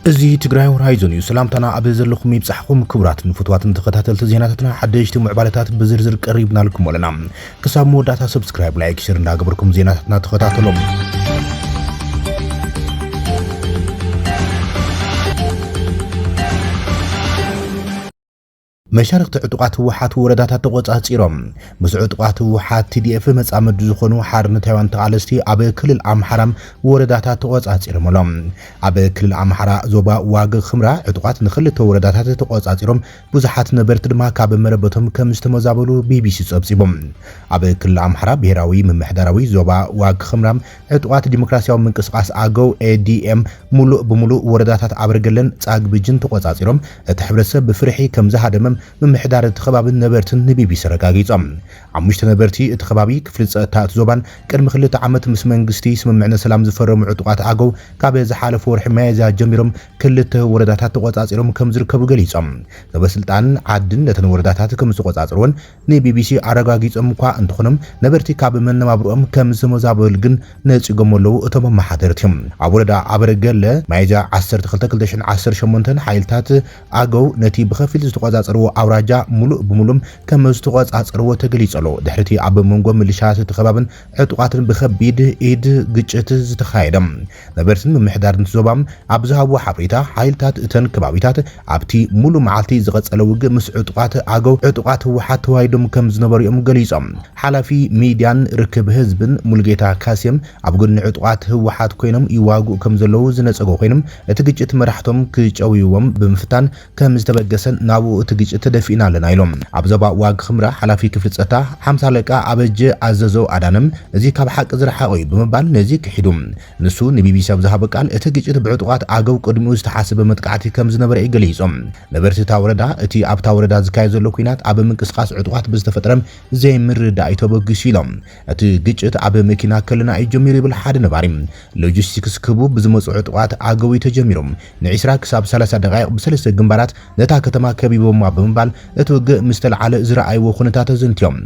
እዚ ትግራይ ሆራይዞን እዩ። ሰላምታና ኣብ ዘለኹም ይብጻሕኹም ክቡራትን ፍትዋትን ተኸታተልቲ ዜናታትና ሓደሽቲ ምዕባለታት ብዝርዝር ቀሪብናልኩም ኣለና። ክሳብ መወዳእታ ሰብስክራይብ ላይክ ሽር እንዳገበርኩም ዜናታትና ተኸታተሎም። መሻርክቲ ዕጡቃት ህወሓት ወረዳታት ተቆፃፂሮም ምስ ዕጡቃት ህወሓት ቲዲኤፍ መፃመዲ ዝኾኑ ሓርነታውያን ተቓለስቲ ኣብ ክልል ኣምሓራ ወረዳታት ተቆፃፂሮም ኣሎም ኣብ ክልል ኣምሓራ ዞባ ዋግ ክምራ ዕጡቃት ንክልተ ወረዳታት ተቆፃፂሮም ብዙሓት ነበርቲ ድማ ካብ መረበቶም ከም ዝተመዛበሉ ቢቢሲ ጸብጺቡ። ኣብ ክልል ኣምሓራ ብሄራዊ ምምሕዳራዊ ዞባ ዋግ ኽምራ ዕጡቓት ዲሞክራስያዊ ምንቅስቓስ ኣገው፣ ADM፣ ምሉእ ብምሉእ ወረዳታት ኣበርገለን ጻግብጅን ተቖጻጺሮም እቲ ሕብረተሰብ ብፍርሒ ከም ዝሃደመ ምምሕዳር እቲ ከባብን ነበርትን ንቢቢሲ ኣረጋጊጾም። ሓሙሽተ ነበርቲ እቲ ከባቢ ክፍሊ ጸጥታ እቲ ዞባን ቅድሚ ክልተ ዓመት ምስ መንግስቲ ስምምዕነት ሰላም ዝፈረሙ ዕጡቓት ኣገው ካብ ዝሓለፈ ወርሒ ሚያዝያ ጀሚሮም ክልተ ወረዳታት ተቖጻጺሮም ከምዝርከቡ ገሊጾም። ሰበስልጣን ዓድን ነተን ወረዳታት ከምዝተቖጻጸርወን ንቢቢሲ ኣረጋጊጾም እኳ እንተኾኑ ነበርቲ ካብ መነባብርኦም ከምዝተመዛበሉ ግን ነጺጎሞ ኣለዉ እቶም ኣመሓደርቲ። ኣብ ወረዳ ኣበርገለ ሚያዝያ ዓሰርተ ክልተ ክልተ ሽሕን ዓሰርተ ሸሞንተን ሓይልታት ኣገው ነቲ ብኸፊል ዝተቖጻጸርዎ ኣውራጃ ምሉእ ብምሉእ ከምዝተቖጻጸርዎ ተገሊጹ ኣሎ። ድሕሪ'ቲ ኣብ መንጎ ምልሻ እቲ ከባብን ዕጡቓትን ብከቢድ ኢድ ግጭት ዝተኻየደ፣ ነበርቲ ምምሕዳር እቲ ዞባ ኣብ ዝሃብዎ ሓበሬታ፣ ሓይልታት እተን ከባቢታት ኣብቲ ሙሉእ መዓልቲ ዝቐጸለ ውግእ ምስ ዕጡቓት ኣገው፣ ዕጡቓት ህወሓት፣ ተዋይዶም ከምዝነበሩ'ዮም ገሊጾም። ሓላፊ ሚድያን ርክብ ህዝብን ሙሉጌታ ካሴም ኣብ ጎድኒ ዕጡቓት ህወሓት ኮይኖም ይዋግኡ ከምዘለዉ ዝነጸጎ ኮይኑ፣ እቲ ግጭት መራሕቶም ክጨውይዎም ብምፍታን፣ ከም ዝተበገሰን ናብኡ እቲ ግጭት ተደፊእና ኣለና ኢሎም። ኣብ ዞባ ዋግ ኽምራ ሓላፊ ክፍሊ ፀጥታ ሓምሳ ኣለቃ ኣበጀ ኣዘዘው ኣዳነ እዚ ካብ ሓቂ ዝረሓቐ እዩ ብምባል ነዚ ክሒዱ። ንሱ ንቢቢሲ ኣብ ዝሃቦ ቃል እቲ ግጭት ብዕጡቓት ኣገው ቅድሚኡ ዝተሓሰበ መጥቃዕቲ ከም ዝነበረ እዩ ገሊፁ። ነበርቲ እታ ወረዳ እቲ ኣብታ ወረዳ ዝካየድ ዘሎ ኲናት ኣብ ምንቅስቓስ ዕጡቓት ብዝተፈጠረ ዘይምርድዳእ እዩ ተበጊሱ ኢሎም። እቲ ግጭት ኣብ መኪና ከለና እዩ ጀሚሩ ይብል ሓደ ነባሪ። ሎጂስቲክስ ክህቡ ብዝመጽኡ ዕጡቓት ኣገው እዩ ተጀሚሩ። ንዒስራ ክሳብ ሰላሳ ደቓይቕ ብሰለስተ ግንባራት ነታ ከተማ ከቢቦማ ብምባል እቲ ውግእ ምስ ተልዓለ ዝረኣይዎ ኩነታት ኣዘንትዮም።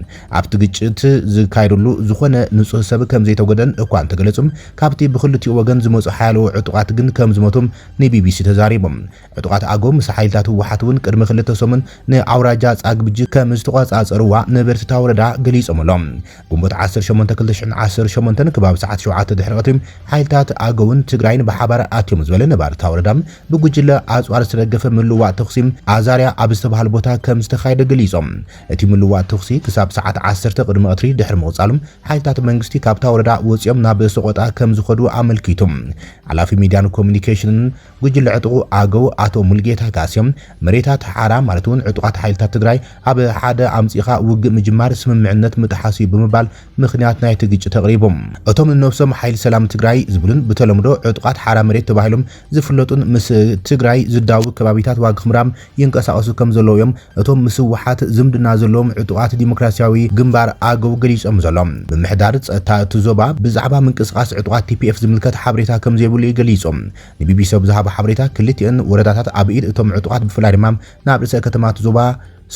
ኣብቲ ግጭት ዝካየደሉ ዝኾነ ንጹህ ሰብ ከምዘይተጎድኣን እኳ እንተገለጹ፣ ካብቲ ብኽልቲኡ ወገን ዝመጹ ሓያሎ ዕጡቓት ግን ከምዝሞቱ ንቢቢሲ ተዛሪቦም። ዕጡቓት ኣገው ምስ ሓይልታት ህወሓት እውን ቅድሚ ክልተ ሰሙን ንኣውራጃ ፃግብጂ ከምዝተቖፃፀርዋ ነበርቲ እታ ወረዳ ገሊፆም'ሎም። ግንቦት ዓሰርተ ሸሞንተ ክልተ ሽሕን ዓሰርተ ሸሞንተን ከባቢ ሰዓት ሸውዓተ ድሕሪ ቐትሪ ሓይልታት ኣገውን ትግራይን ብሓባር ኣትዮም ዝበለ ነባሪ እታ ወረዳ ብጉጅለ ኣፅዋር ዝተደገፈ ምልውዋጥ ተኹሲ ኣዛርያ ኣብ ዝተብሃል ቦታ ከምዝተኻየደ ገሊፆም። እቲ ምልውዋጥ ተኹሲ ክሳብ ሰዓት ዓሰርተ ቕድሚ ቐትሪ ድሕሪ ምቕፃሉ ሓይልታት መንግስቲ ካብታ ወረዳ ወፂኦም ናብ ሰቖጣ ከምዝኸዱ ኣመልኪቱ ሓላፊ ሚድያን ኮሙዩኒኬሽንን ጉጅለ ዕጡቑ ኣገው ኣቶ ሙልጌታ ካሲም፣ መሬታት ሓራ ማለት እውን ዕጡቓት ሓይልታት ትግራይ ኣብ ሓደ ኣምፂእኻ ውግእ ምጅማር ስምምዕነት ምጥሓስ እዩ ብምባል ምኽንያት ናይቲ ግጭት ኣቕሪቡ። እቶም ንነብሶም ሓይሊ ሰላም ትግራይ ዝብሉን ብተለምዶ ዕጡቓት ሓራ መሬት ተባሂሎም ዝፍለጡን ምስ ትግራይ ዝዳውብ ከባቢታት ዋግኽምራ፣ ይንቀሳቐሱ ከምዘለዉ እዮም እቶም ምስ ህወሓት ዝምድና ዘለዎም ዕጡቓት ዲሞክራሲያዊ ግንባር፣ ኣገው፣ ገሊጾም ዘሎ ምምሕዳር ጸጥታ እቲ ዞባ ብዛዕባ ምንቅስቓስ ዕጡቓት ቲፒኤፍ ዝምልከት ሓበሬታ ከምዘይብሉ እዩ ገሊጹ ንቢቢሲ ኣብ ዝሃቦ ሓበሬታ ክልቲኣን ወረዳታት ኣብ ኢድ እቶም ዕጡቓት ብፍላይ ድማ ናብ ርእሰ ከተማ እቲ ዞባ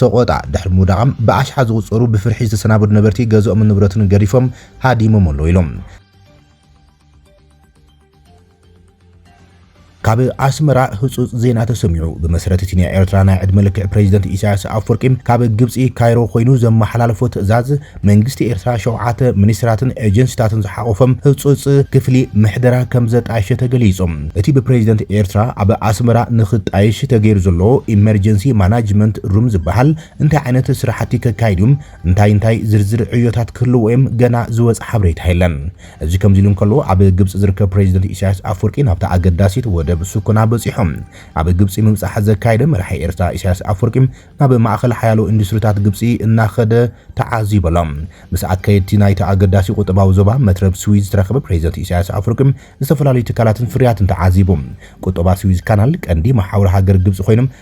ሰቖጣ ድሕሪ ምውዳቓም ብኣሽሓት ዝቑጸሩ ብፍርሒ ዝተሰናበዱ ነበርቲ ገዝኦምን ንብረቱን ገዲፎም ሃዲሞም ኣለዉ ኢሉ። ካብ ኣስመራ ህጹጽ ዜና ተሰሚዑ። ብመሰረት እቲ ናይ ኤርትራ ናይ ዕድመ ልክዕ ፕረዚደንት ኢሳያስ ኣፍወርቂ ካብ ግብጺ ካይሮ ኮይኑ ዘመሓላለፎ ትእዛዝ፣ መንግስቲ ኤርትራ ሸውዓተ ሚኒስትራትን ኤጀንሲታትን ዝሓቖፈ ህጹጽ ክፍሊ ምሕደራ ከም ዘጣየሸ ተገሊጹ። እቲ ብፕረዚደንት ኤርትራ ኣብ ኣስመራ ንኽጣየሽ ተገይሩ ዘሎ ኢመርጀንሲ ማናጅመንት ሩም ዝበሃል እንታይ ዓይነት ስራሕቲ ከካይድ እዩ፣ እንታይ እንታይ ዝርዝር ዕዮታት ክህልዎ እዮም ገና ዝወጽኣ ሓበሬታ የለን። እዚ ከምዚሉ እንከሎ፣ ኣብ ግብጺ ዝርከብ ፕረዚደንት ኢሳያስ ኣፍወርቂ ናብታ ኣገዳሲት ወደብ ሱኮና በጺሑ። ኣብ ግብጺ ምብጻሕ ዘካየደ መራሒ ኤርትራ ኢሳያስ ኣፍወርቂ፣ ናብ ማእከል ሓያሎ ኢንዱስትሪታት ግብጺ እናኸደ ተዓዚቡ ኣሎ። ምስ ኣካየድቲ ናይቲ ኣገዳሲ ቁጠባዊ ዞባ መትረብ ስዊዝ ዝተራኸበ ፕረዚደንት ኢሳያስ ኣፍወርቂ፣ ዝተፈላለዩ ትካላትን ፍርያትን ተዓዚቡ። ቁጠባ ስዊዝ ካናል ቀንዲ መሓውር ሃገር ግብጺ ኮይኑ፣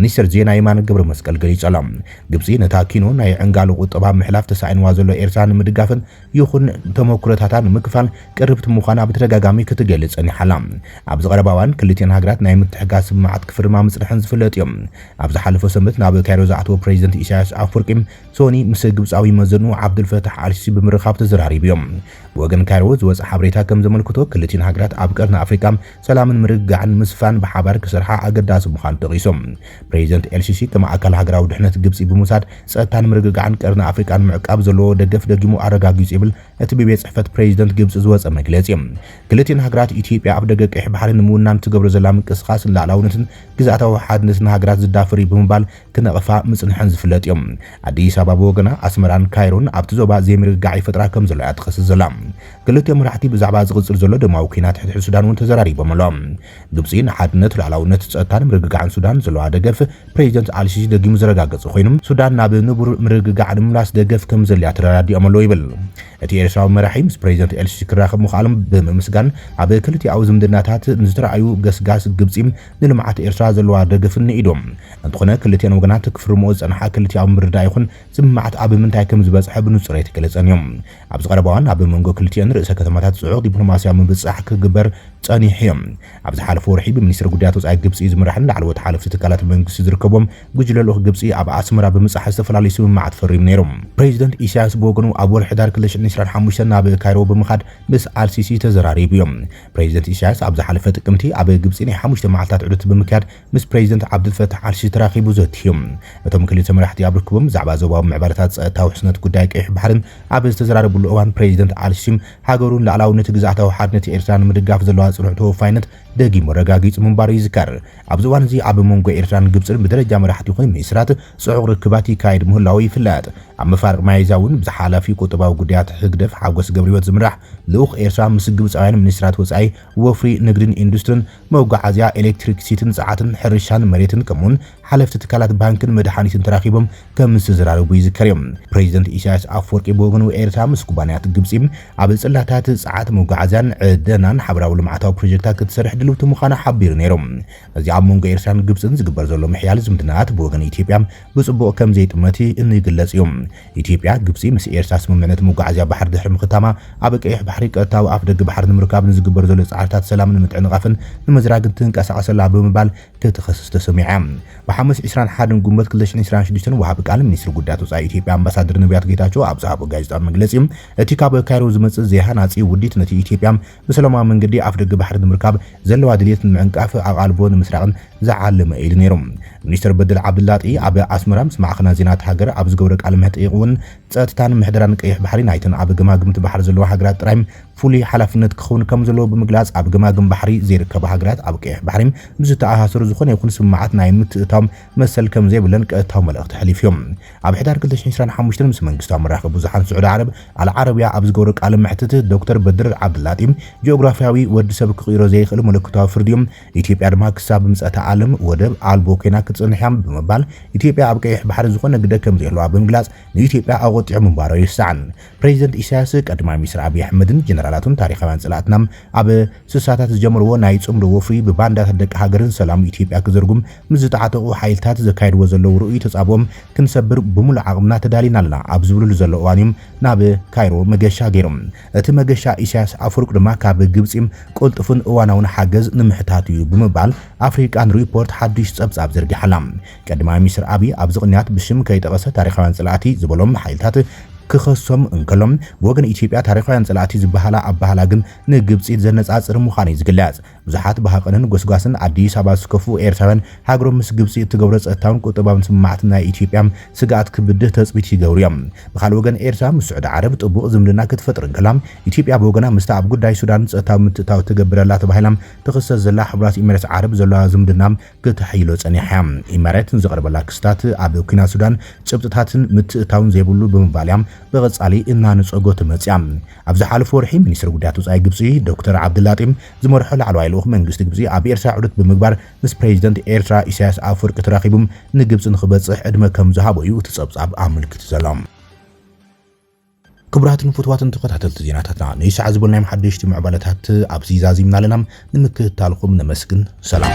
ሚኒስተር ዜና የማነ ገብረመስቀል ገሊጹ ኣሎ። ግብጺ ነታ ኪኖ ናይ ዕንጋሎ ቁጠባ ኣብ ምሕላፍ ተሳኢንዋ ዘሎ ኤርትራ ንምድጋፍን ይኹን ተመኩሮታታ ንምክፋል ቅርብቲ ምዃና ብተደጋጋሚ ክትገልጽ ጸኒሓ ኣላ። ኣብዚ ቀረባ እዋን ክልቲኤን ሃገራት ናይ ምትሕግጋዝ ስምምዓት ክፍርማ ምጽንሐን ዝፍለጥ እዩ። ኣብ ዝሓለፈ ሰንበት ናብ ካይሮ ዝኣተወ ፕረዚደንት ኢሳይያስ ኣፍወርቂ ሶኒ ምስ ግብጻዊ መዘንኡ ዓብዱልፈታሕ ኣልሲሲ ብምርኻብ ተዘራሪቡ እዩ። ብወገን ካይሮ ዝወጸ ሓበሬታ ከም ዘመልክቶ፣ ክልቲኡን ሃገራት ኣብ ቀርኒ ኣፍሪቃ ሰላምን ምርግጋዕን ንምስፋን ብሓባር ክሰርሓ ኣገዳሲ ምዃኑ ጠቒሱ። ፕረዚደንት ኤል-ሲሲ ከም ኣካል ሃገራዊ ድሕነት ግብጺ ብምውሳድ ጸጥታን ምርግጋዕን ቀርኒ ኣፍሪቃ ንምዕቃብ ዘለዎ ደገፍ ደጊሙ ኣረጋጊጹ ይብል እቲ ብቤት ጽሕፈት ፕረዚደንት ግብጺ ዝወጸ መግለጺ። ክልቲኣን ሃገራት ኢትዮጵያ ኣፍደገ ቀይሕ ባሕሪ ንምውናን እትገብሮ ዘላ ምንቅስቓስ ንላእላውነትን ግዝኣታዊ ሓድነትን ሃገራት ዝዳፈር'ዩ ብምባል ክነቕፋ ምጽንሐን ዝፍለጥ እዩ። ኣዲስ ኣበባ ብወገና፣ ኣስመራን ካይሮን ኣብቲ ዞባ ዘይምርግጋዕ ይፈጥራ ከም ዘለዋ እያ ትኸስስ ዘላ። ክልቲኦም መራሕቲ ብዛዕባ ዝቕጽል ዘሎ ደማዊ ኲናት ሕድሕድ ሱዳን እውን ተዘራሪቦም ኣለዉ። ግብጺ ንሓድነት፣ ልኣላውነት፣ ጸጥታን ምርግጋዕን ሱዳን ዘለዋ ደገፍ ፕረዚደንት ኣልሲሲ ደጊሙ ዘረጋገጸ ኮይኑ፣ ሱዳን ናብ ንቡር ምርግጋዕ ንምምላስ ደገፍ ከም ዘድልያ ተረዳዲኦም ኣለዉ ይብል። እቲ ኤርትራዊ መራሒ ምስ ፕረዚደንት ኤልሲሲ ክራኸብ ምኽኣሎም ብምምስጋን፣ ኣብ ክልቲኣዊ ዝምድናታት ንዝተራእዩ ገስጋስ ግብጺ፣ ንልምዓት ኤርትራ ዘለዋ ደገፍን ንኢዱ። እንተኾነ ክልቲኤን ወገናት ክፍርምኦ ዝጸንሓ ክልቲኣዊ ምርድዳእ ይኹን ስምምዓት ኣብ ምንታይ ከም ዝበጽሐ ብንጹር ኣይተገለጸን እዩ። ኣብዚ ቀረባ እዋን ኣብ መንጎ ክልቲኤን ርእሰ ከተማታት ጽዑቕ ዲፕሎማስያዊ ምብጽጻሕ ክግበር ጸኒሑ እዩ። ኣብ ዝሓለፈ ወርሒ ብሚኒስትሪ ጉዳያት ወጻኢ ግብጺ ዝምራሕን ላዕለዎት ሓለፍቲ ትካላት መንግስቲ ዝርከብዎም ጉጅለ ልኡኽ ግብጺ ኣብ ኣስመራ ብምብጻሕ ዝተፈላለዩ ስምምዓት ፈሪሙ ነይሩ። ፕሬዚደንት ኢሳያስ ብወገኑ ኣብ ወርሒ ሕዳር ክልተ ሽሕን ዒስራን ሓሙሽተን ናብ ካይሮ ብምኻድ ምስ ኣልሲሲ ተዘራሪቡ እዩ። ፕረዚደንት ኢሳያስ ኣብ ዝሓለፈ ጥቅምቲ ኣብ ግብጺ ናይ ሓሙሽተ መዓልታት ዑደት ብምክያድ ምስ ፕረዚደንት ዓብዱልፈታሕ ኣልሲሲ ተራኺቡ ዘትዩ። እቶም ክልተ መራሕቲ ኣብ ርክቦም ብዛዕባ ዞባዊ ምዕባለታት፣ ጸጥታ፣ ውሕስነት ጉዳይ ቀይሕ ባሕሪን ኣብ ዝተዘራረብሉ እዋን ፕረዚደንት ኣልሲሲ ሃገሩን ልኣላውነት ግዝኣታዊ ሓድነት ኤርትራን ንምድጋፍ ዘለዋ ጽኑዕ ተወፋይነት ደጊሙ ኣረጋጊጹ ምንባሩ ይዝከር። ኣብዚ እዋን እዚ ኣብ መንጎ ኤርትራን ግብጽን ብደረጃ መራሕቲ ይኹን ሚኒስትራት ጽዑቕ ርክባት ይካየድ ምህላዉ ይፍለጥ። ኣብ መፋርቕ መያዝያ እውን ብዝሓላፊ ቁጠባዊ ጉዳያት ህግደፍ ሓጎስ ገብርህይወት ዝምራሕ ልኡኽ ኤርትራ ምስ ግብጻውያን ሚኒስትራት ወጻኢ፣ ወፍሪ፣ ንግድን ኢንዱስትርን፣ መጓዓዝያ፣ ኤሌክትሪክሲቲን ጸዓትን፣ ሕርሻን መሬትን ከምኡ'ውን ሓለፍቲ ትካላት ባንክን መድሓኒትን ተራኺቦም ከም ዝተዘራረቡ ይዝከር እዩ። ፕረዚደንት ኢሳያስ ኣፍወርቂ ብወገኑ፣ ኤርትራ ምስ ኩባንያታት ግብጺ ኣብ ጽላታት፣ ጸዓት፣ መጓዓዝያን ዕደናን ሓበራዊ ልምዓታዊ ፕሮጀክታት ክትሰርሕ ድልውቲ ምዃና ሓቢሩ ነይሩ። እዚ ኣብ መንጎ ኤርትራን ግብጽን ዝግበር ዘሎ ምሕያል ዝምድናታት ብወገን ኢትዮጵያ ብጽቡቕ ከም ዘይጥመት እንግለጽ እዩ። ኢትዮጵያ፣ ግብጺ ምስ ኤርትራ ስምምዕነት መጓዓዝያ ባሕሪ ድሕሪ ምኽታማ፣ ኣብ ቀይሕ ባሕሪ ቀጥታዊ ኣፍደገ ባሕሪ ንምርካብ ንዝግበር ዘሎ ጻዕርታት ሰላምን ምትዕንቓፍን ንምዝራግ ትንቀሳቐስ ኣላ ብምባል ክትኸስስ ተሰሚዓ። ብሓሙስ ዕስራን ሓደን ጉንበት ክልተ ሽሕን ዕስራን ሽዱሽተን ወሃቢ ቃል ሚኒስትሪ ጉዳያት ወፃኢ ኢትዮጵያ ኣምባሳደር ነብያት ጌታቸው ኣብ ዝሃቦ ጋዜጣዊ መግለፂ እቲ ካብ ካይሮ ዝመፅእ ዘይሃናፂ ውዲት ነቲ ኢትዮጵያ ብሰላማዊ መንገዲ ኣፍደገ ባሕሪ ንምርካብ ዘለዋ ድልየት ንምዕንቃፍ ኣቓልቦ ንምስራቕን ዝዓለመ እዩ ኢሉ ነይሩ። ሚኒስትር በድል ዓብድላጢ ኣብ ኣስመራ ምስ ማዕኸናት ዜና እታ ሃገር ኣብ ዝገብሮ ቃለ መሕጥይቕ እውን ፀጥታን ምሕደራን ቀይሕ ባሕሪ ናይተን ኣብ ገማግምቲ ባሕሪ ዘለዋ ሃገራት ጥራይ ፍሉይ ሓላፍነት ክኸውን ከም ዘለዎ ብምግላጽ፣ ኣብ ገማግም ባሕሪ ዘይርከባ ሃገራት ኣብ ቀይሕ ባሕሪ ምስ ዝተኣሳሰሩ ዝኾነ ይኹን ስምምዓት ናይ ምትእትታው መሰል ከም ዘይብለን ቀጥታዊ መልእኽቲ ኣሕሊፉዮ። ኣብ ሕዳር ክልተ ሽሕን ዕስራን ሓሙሽተን ምስ መንግስታዊ መራኸቢ ብዙሓን ስዑዲ ዓረብ ኣል ዓረብያ ኣብ ዝገብሮ ቃለ መሕትት ዶክተር በድር ዓብደላጢ ጂኦግራፍያዊ ወዲ ሰብ ክቕይሮ ዘይኽእል መለኮታዊ ፍርዲዮ ኢትዮጵያ ድማ ክሳብ ምጽኣተ ዓለም ወደብ ኣልቦ ኮይና ክትጽንሕያ ብምባል ኢትዮጵያ ኣብ ቀይሕ ባሕሪ ዝኾነ ግደ ከም ዘይህልዋ ብምግላጽ ንኢትዮጵያ ኣቖጢዑ ምንባሩ ኣይርሳዕን። ፕረዚደንት ኢሳያስ፣ ቀዳማይ ሚኒስተር ኣቢይ ኣሕመድን ጀነራላቱን ታሪኻውያን ጸላእትና ኣብ ስሳታት ዝጀመርዎ ናይ ጽምዶ ወፍሪ ብባንዳታት ደቂ ሃገርን ሰላም ኢትዮጵያ ክዝርጉም ምስ ዝተዓጠቑ ሓይልታት ዘካይድዎ ዘለዉ ርኡይ ተጻብኦም ክንሰብር ብምሉእ ዓቕምና ተዳሊና ኣለና ኣብ ዝብልሉ ዘሎ እዋን'ዩም ናብ ካይሮ መገሻ ገይሮም። እቲ መገሻ ኢሳያስ ኣፍወርቂ ድማ ካብ ግብጺ ቅልጡፍን እዋናውን ሓገዝ ንምሕታት'ዩ ብምባል ኣፍሪቃን ሪፖርት ሓድሽ ጸብጻብ ዘርጊሓ'ላ። ቀዳማይ ሚኒስትር ኣብይ ኣብዚ ቅንያት ብስም ከይጠቐሰ ታሪኻውያን ፀላእቲ ዝበሎም ሓይልታት ክኸሶም እንከሎ ብወገን ኢትዮጵያ ታሪኻውያን ፀላእቲ ዝበሃላ ኣበሃህላ ግን ንግብፂ ዘነፃፅር ምዃኑ እዩ ዝግለፅ። ብዙሓት ብሃቐንን ጎስጓስን ኣዲስ ኣበባ ዝስከፉ ኤርትራውያን ሃገሮም ምስ ግብፂ እትገብሮ ፀጥታውን ቁጠባውን ስምምዓት ናይ ኢትዮጵያ ስግኣት ክብድህ ተፅቢት ይገብሩ እዮም። ብኻልእ ወገን ኤርትራ ምስ ስዑዲ ዓረብ ጥቡቕ ዝምድና ክትፈጥር እንከላ ኢትዮጵያ ብወገና ምስታ ኣብ ጉዳይ ሱዳን ፀጥታዊ ምትእትታው ትገብር ኣላ ተባሂላ ትኽሰስ ዘላ ሕቡራት ኢሚሬት ዓረብ ዘለዋ ዝምድና ክተሐይሎ ጸኒሓ እያ። ኢመሬት ንዝቐርበላ ክስታት ኣብ ኲናት ሱዳን ጭብጥታትን ምትእትታውን ዘይብሉ ብምባል እያ ብቐጻሊ እናነጸጎቶ መጺኣ። ኣብ ዝሓለፈ ወርሒ ሚኒስተር ጉዳያት ወጻኢ ግብጺ ዶክተር ዓብደላጢም ዝመርሖ ላዕለዋይ ልኡኽ መንግስቲ ግብጺ ኣብ ኤርትራ ዑደት ብምግባር ምስ ፕረዚደንት ኤርትራ ኢሳያስ ኣፍወርቂ ተራኺቡ ንግብጺ ንኽበጽሕ ዕድመ ከምዝሃቦ እዩ እቲ ጸብጻብ ኣመልኪቱ ዘሎ። ክቡራትን ፍትዋትን ተኸታተልቲ ዜናታትና ንይሳዕ ዝበልናዮም ሓደሽቲ ምዕባለታት ኣብዚ ዛዚምና ኣለና። ንምክትታልኹም ነመስግን። ሰላም።